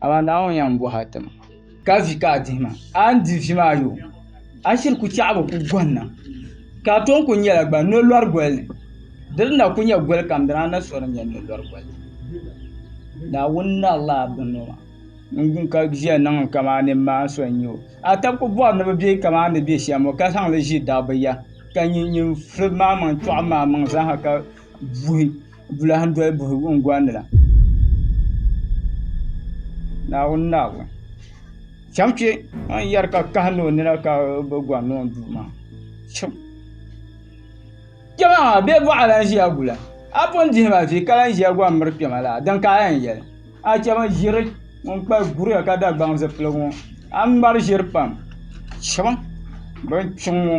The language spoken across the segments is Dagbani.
Amaa Naawuni yɛn bɔh a ti ma, ka vi ka a dihi ma. A ni di vi maa yo, a shiri ku chɛɣibu ku gɔnna, ka a tɔn ku nyɛla gba nolɔri goli ni. Di ni na ku nyɛ goli kam dina a ni sɔri nyɛ nolɔri goli. Naawuni narila a binŋɔ maa. N gun ka viya niŋ n kaman nimmaan so n-nyɛ o. A tab ku bɔri ni bɛ be kaman n ni be shɛm ŋɔ, ka zaŋ li ʒi dabba ya, ka nyin nyin firi maa maŋ tɔɣim maa maŋ zaa ha ka Bulaam doli buhi wungundi la Naawuni ni a wum chɛŋ kpɛ a ni yɛri ka kahi ni o nina ka bi gɔri niŋ duu maa kpɛmaa bee bɔɣa lahi ʒiya gula a pun dihi ma vii ka lahi ʒiya gɔri miri kpɛma laa din ka a yɛn yɛli a chɛ bin ʒiri ŋun kpa guria ka Dagbaŋ zipiligu ŋɔ a ni ŋmari ʒiri pam chɛma bin kpiɔŋ ŋɔ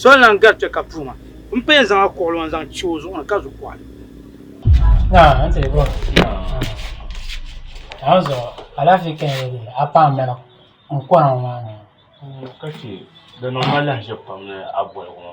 Soli lan gari kpe ka puu ma. M pa yɛn zaŋ a kuɣulɔŋ n-zaŋ che o zuɣu ni ka zu kɔɣili. Ka chɛ di niŋ ma lahiʒiɛbu pam ni a boligu ŋɔ.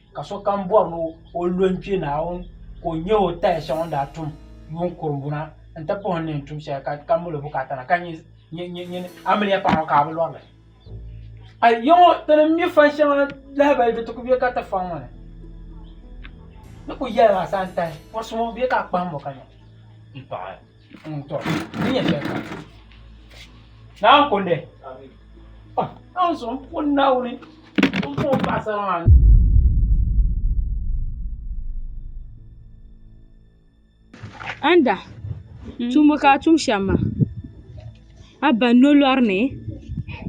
Ka sokam bɔri ni o lo n-kpe Naawuni ka o nya o taya shɛŋa o ni daa tum yuun kurimbuna nti puhi n ni yɛn tum shɛli ka ka mali o bukaata na ka nyin nyin amiliya paŋa ka a bi lɔri li. A yi ŋɔ ti ni mi fan shɛŋa lahibali di ti ku be ka ti faŋ ŋɔ ni. Ni ku yɛli ma a saha n-tahi pɔrisi ŋɔ bee ka a kpahim o ka nya m-paɣi. Mm, to, ni nyɛ shɛli kam. Naawuni kundi. Oh, an so n puhi Naawuni. N puhi paɣasara maa. Anda, tumbu ka a tum shɛm maa. A ba n lo lɔri ni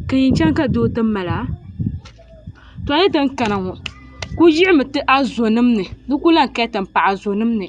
ka yɛn chaŋ ka doo ti mali a. To a yi ti ni kana ŋɔ, ku yiɣimi ti a zonim ni di ku lahi kali ti m paɣa zonim ni.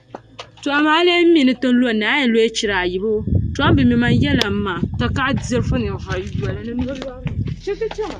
To amaa a lee mi ni ti lo ni a yɛn looi chira ayibu to a mi mi man yɛla n ma takahi dirifu ninvuɣu yoli ni noli wari mi chɛ ti chɛma.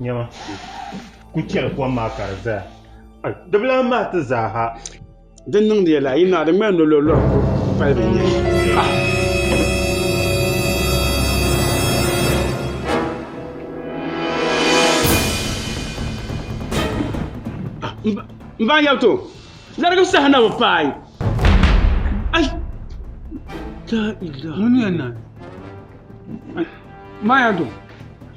Nyama, ku chɛli kom maa ka di zaya. Di bi lahi mahi ti zaa ha. Di niŋdi ya laa, yi naa di ŋmani nololɔri ko palibu n-nyɛ li. M ba n yɛli ti o, larigi saha na bi paai.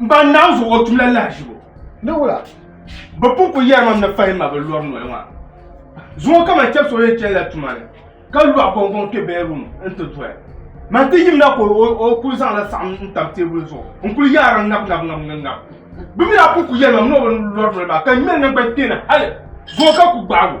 M ba n naɣim zuɣu o tum la lahiʒibu. Ni wula? Bɛ pun ku yɛri mam ni fahi ma bɛ lɔri noli maa zuŋɔ ka man chɛbisi o yɛn chani la tuma ni ka lɔɣi gɔŋgɔŋ kpe bɛɛruum nti doya. Man ti yimina ka o kul zaŋ la saɣim n-tam teebuli zuɣu n-kul yaari ŋab ŋab ŋab ŋab ŋab. Bɛ mi daa pun ku yɛri mam ni o bi lɔri noli maa ka ŋmɛli naŋgban kpeeni hal zuŋɔ ka ku gbaag o.